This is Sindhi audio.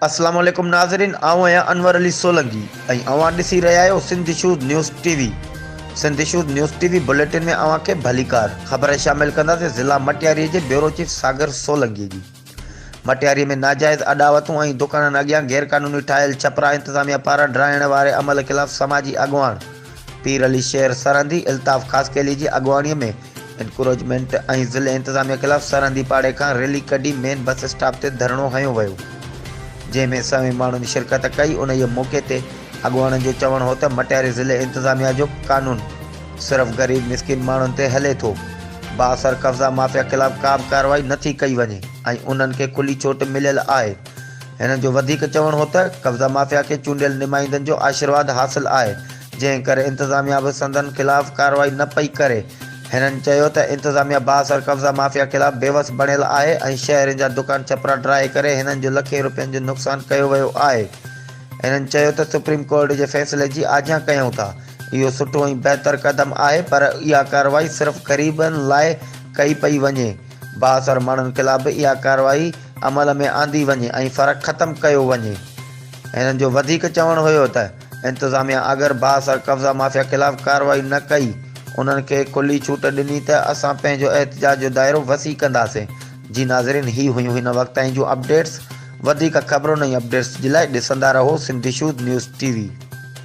السلام عليڪم ناظرين آئون آهيان انور علي سولنگي ۽ اوهان ڏسي رهيا آهيو Sindh issues news T V Sindh issues news T V bulletin ۾ اوهان کي ڀليڪار خبر شامل ڪنداسين ضلع مٽياري جي بيورو چيف ساگر سولنگي جي مٽياري ۾ ناجائز اڏاوتون ۽ دڪانن اڳيان غيرقانوني ٺاهيل ڇپرا انتظاميا پاران ڊاهڻ واري عمل خلاف سماجي اڳواڻ پير علي شير سرهندي الطاف خاصخيلي جي اڳواڻي ۾ انڪروچمينٽ ۽ ضلعي انتظاميا خلاف سرهندي پاڙي کان ريلي ڪڍي مين بس اسٽاپ تي ڌرڻو هنيو ويو جنهن ۾ سوين ماڻهن شرڪت ڪئي انهيء موقعي تي اڳواڻن جو چوڻ هو ته مٽياري ضلعي انتظاميا جو قانون صرف غريب مسڪين ماڻهن تي هلي ٿو. بااثر قبضا مافيا خلاف ڪا به ڪارروائي نه ٿي ڪئي وڃي ۽ انهن کي کلي ڇوٽ مليل آهي. هنن جو وڌيڪ چوڻ هو ته قبضا مافيا کي چونڊيل نمائندن جو آشيرواد حاصل آهي جنهن ڪري انتظاميا به سندن خلاف ڪارروائي نه پئي ڪري. هنن چيو ته انتظاميا بااثر قبضا مافيا خلاف بيوس بڻيل آهي ۽ شهرين جا دڪان ڇپرا ڊاهي ڪري هنن جو لکين روپين جو نقصان ڪيو ويو آهي. هنن چيو ته سپريم ڪورٽ جي فيصلي جي آجيان ڪيون ٿا. اهو سٺو ۽ بهتر قدم آهي پر اها ڪارروائي صرف غريبن لاء ڪئي پئي وڃي، بااثر ماڻهن خلاف به اها ڪارروائي عمل ۾ آندي وڃي ۽ فرق ختم ڪيو وڃي. هنن جو وڌيڪ چوڻ هيو ته انتظاميا اگر بااثر قبضا مافيا خلاف ڪارروائي نه ڪئي، انهن کي کلي ڇوٽ ڏني ته اسان پنهنجو احتجاج جو دائرو وسيع ڪنداسين. جي ناظرين هي هيون هن وقت تائين جون اپڊيٽس، وڌيڪ خبرن ۽ اپڊيٽس جي لاء ڏسندا رهو سنڌيشوز نيوز ٽي وي.